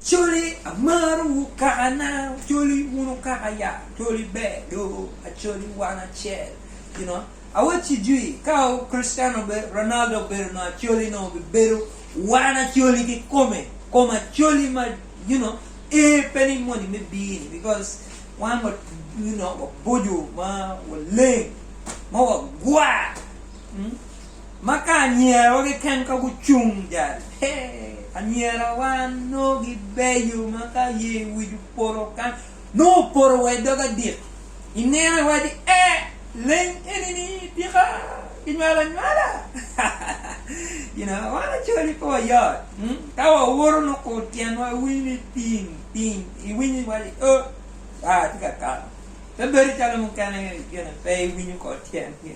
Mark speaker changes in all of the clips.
Speaker 1: Coli amaro wu kaka na coli wunu kaka ya coli ber do acoli wan acel you know awacci jwi ka Cristiano Ronaldo obedo no acoli nongo bi bedo wan acoli ki kome kom acoli ma you know ee pe ni moni me bir ni because wan wa you know waboco ma waleng ma wagwar. Ma ka anyirawa keken ka gucung jal, he, anyirawa nongo gibeyo ma ka aye wic opoto kan, nongo opoto wa i dog adik. Ineno iwaci, e, leng eni-ni tika kinywalo anywala? you know, wan Acholi pe wayot. Hmm? Ka wawoto nongo kur tyenwa iwinyo ni piny, piny, iwinyo iwaci, o, aa tye ka kato. Pe bedo calo mukene gin pe iwinyo kor tyengi.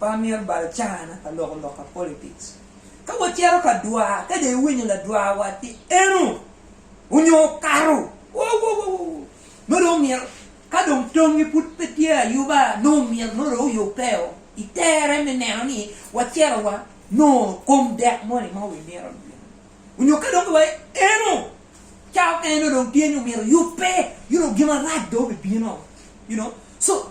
Speaker 1: Pe amyero bal cana ka loko lok pa politics. Ka wacito ka dwar, ka dong iwinyo ladwar watgi eno onyo okato, wowowowoo! Nongo dong omyero ka dong tongngi pud pe tye ayuba, nongo omyero nongo dong oyubbeo i tere me neno ni wacito wa nongo kom dek moni ma wimito ni bino. Onyo ka dong giwaco ni eno ca mukene nongo dong tye ni omyero oyubbe, you know, gin marac dong obibino, you know. So.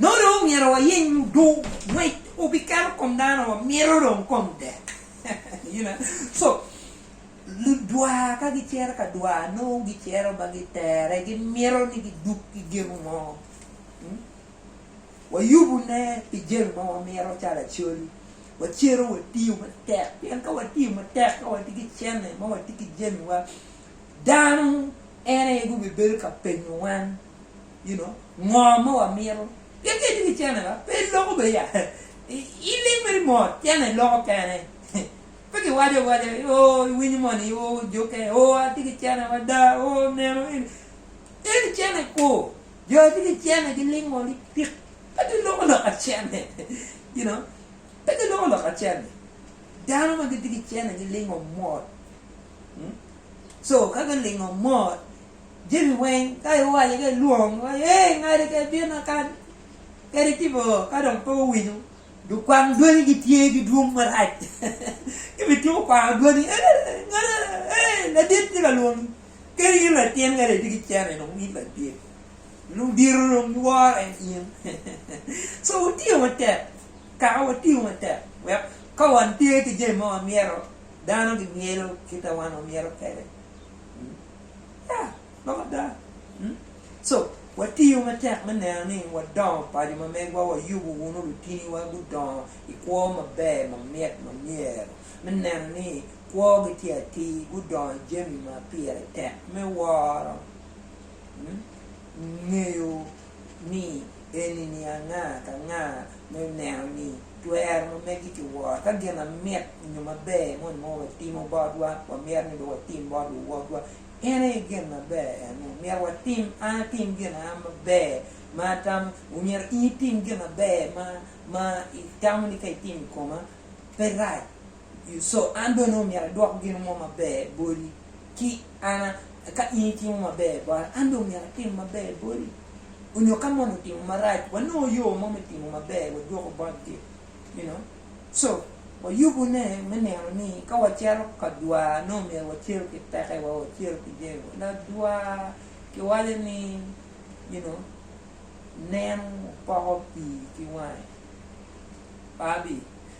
Speaker 1: Nongo dong omyero wayeny mudu ngwec obikato kom dano ma mito dong kom dek. Co, ludwa ka gicito ka dwa nongo gicito ma gitere, gimito ni giduk ki gin mo. Wayubune pi jami ma wamito calo acoli, wacito watiyo matek pien ka watiyo matek ka watye ki cene ma watye ki jamiwa, dano en aye gubibedo ka penyo wan. you know ngo ma wa mito pien ka itye ki cene ba pe iloko be ya i lim mere mot cene loko kene pe ki waco awaca oo i winyo moni oo juke oo atye ki cene mada oo neno eni eni cene ku jo atye ki cene gi lingo ni pik pe ki loko loka cene you know pe ki loko loka cene dano ma gitye ki cene gi lingo mot hmm? so ka gilingo mot Jami weng ka iwaco ka ilwongo iwaco ee ngati ka ibino akan kadi itimo ngo ka dong pe owinyo lukwang dwanyi gitye ki dwong marac ci bituko kwango dwanyi ee ngati ee ladit tye ka lwongi kadi in latin kadi itye ki cene dong in ladit dong diro dong giworo en in so watiyo matek kara watiyo matek wek ka watye ki jami ma wamyero dano gimyelo kita wan wamyero kwede. Ya, lok ada. So, watiyo matek me neno ni wadongo paco ma megwa wayubo wunu lutiniwa gudongo i kwo maber ma mit ma myero me neno ni kwogi tye atir, gudongo i jami ma pire tek me woro, ngeyo. ni eni ni anga ka nga me neno ni twero ma megi ki woro. Ka gin mamit nyo maber moni ma watimo botwa wamito ni dong watim bot luwotwa, en aye gin maber ene. Myero watim, an atim gin ma an maber ma atamo, myero in itim gin maber ma itamo ni ka itimo i koma pe rac. So an bene omyero adwok gin mo maber boti ki an? Ka in itimo maber bota, an bene omyero atim maber boti? Onyo ka moni otimo marac, wanongo yo mo me timo maber wadwoko botgi. You know? So, wayubune me neno ni ka wacito ka dwa, nongo myero wacito ki pekewa, wacito ki jami wa. Ladwa kiwaco ni, you know, neno poko pii ki wange. Pabi.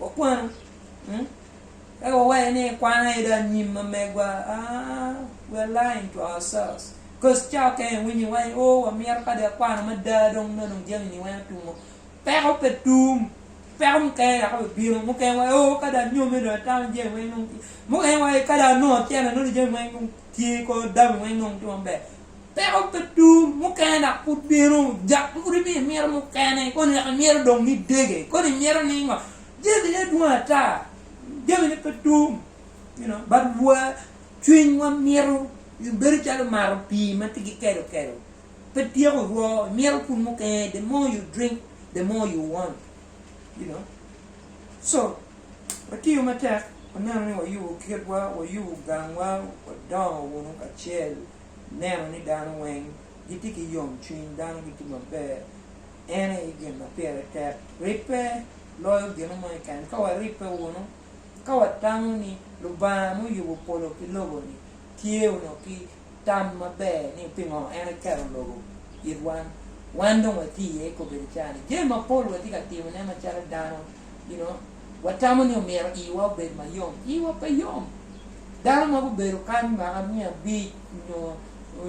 Speaker 1: Wakwanu. Eka wawacce ni, Kwan aye dong anyim ma megwa. We are lying to ourselves. Cause ca okene iwinyo iwaco ni, Oh, wamito ka dong akwano mada, dong nongo dong jami-ni weng atumo. Peko pe tum. Peko mukene dok aye bino. Mukene iwaco ni, Oh, ka dong anyome dong atamo jami weng dong tye. Mukene iwaco ni, Ka dong anongo tyena nongo jami weng dong tye, kor dami weng dong tye maber. Peko pe dong, mukene dok pud bino. Dok pud imiyo imito mukene, koni dok imito dong ni idege, koni imito ni ngo. Jamine dwong ata, jamine pe dong, you know, but wa, cwinywa mito, bedo calo mato pii ma tye ki kelo kelo, pe tyeko rwo, imito pud mukene, the more you drink, the more you want, you know. So, watiyo matek, waneno ni wayubo kitwa, wayubo gangwa, wadongo wunu kacel. neno ni dano weng gitye ki yom cwiny, dano gitye maber, en aye gin ma pire tek. Ribbe loyo gino mo keken. Ka waribbe wunu, ka watamo ni Lubanga ma oyubo polo ki lobo-ni tye wunu ki tam maber ni pingo en eketo lobo it wan, wan dong watye iye i kobedo ca-ni. Jami mapol watye ka timone macalo dano, you know. watamo ni omyero iwa obed ma yom. Iwa pe yom. Dano ma gubedo kany mwaka miya abic nyo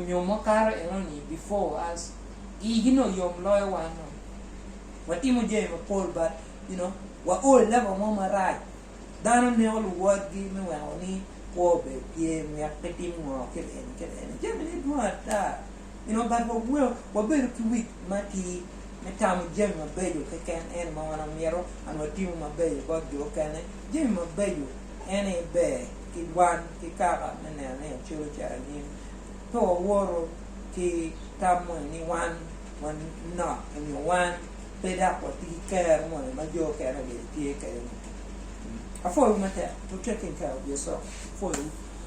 Speaker 1: nyo makato enoni before us igi nongo yom loyo wan nongo watimo jami mapol but you know wa o i level mo marac dano neko luwotgi me weko ni kwo obed tye myek pe tim ngo kit eni kit eni jami ne dwong ata. Pien Ogat wa weko wabedo ki wic matir me tamo jami mabeco keken, ento ma wan wamito an watimo mabeco bot jo okene. Jami mabeco en aye ber ki wan ki kaka me neno ni wacodo ca anyim. Pe wawoto ki tam moni ni wan wanok nyo wan pe dok watye ki kero moni ma jo okene obed tye kwede-ni. Apwoyowu matek, Protecting Care of Your Soul. Apwoyowu.